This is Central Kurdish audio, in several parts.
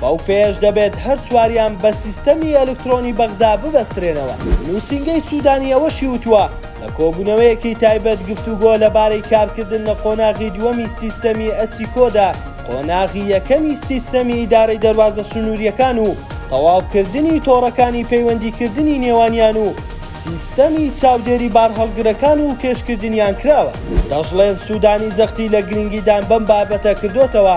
بەو پێیەش دەبێت هەر چواریان بە سیستەمی ئەلکترۆنی بەغدا ببەسترێنەوە. نووسینگەی سوودانی ئەوەشی وتووە، لە کۆبوونەوەیەکی تایبەت گفتوگۆ لەبارەی کارکردن لە قۆناغی دووەمی سیستەمی ئەسیکۆدا، قۆناغی یەکەمی سیستەمی ئیدارەی دەروازە سنوورییەکان و تەواوکردنی تۆڕەکانی پەیوەندیکردنی نێوانیان و سیستەمی چاودێری بارهەڵگرەکان و کێشکردنیان کراوە. دەشڵێن سوودانی جەختی لە گرنگیدان بەم بابەتە کردۆتەوە،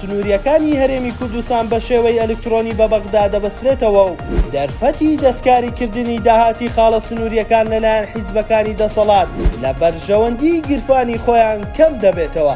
سنوورییەکانی هەرێمی کوردستان بە شێوەی ئەلکترۆنی بە بەغدا دەبەسترێتەوە و دەرفەتی دەستکاریکردنی داهاتی خاڵە سنوورییەکان لەلایەن حیزبەکانی دەسەڵات لە بەرژەوەندیی گیرفانی خۆیان کەم دەبێتەوە.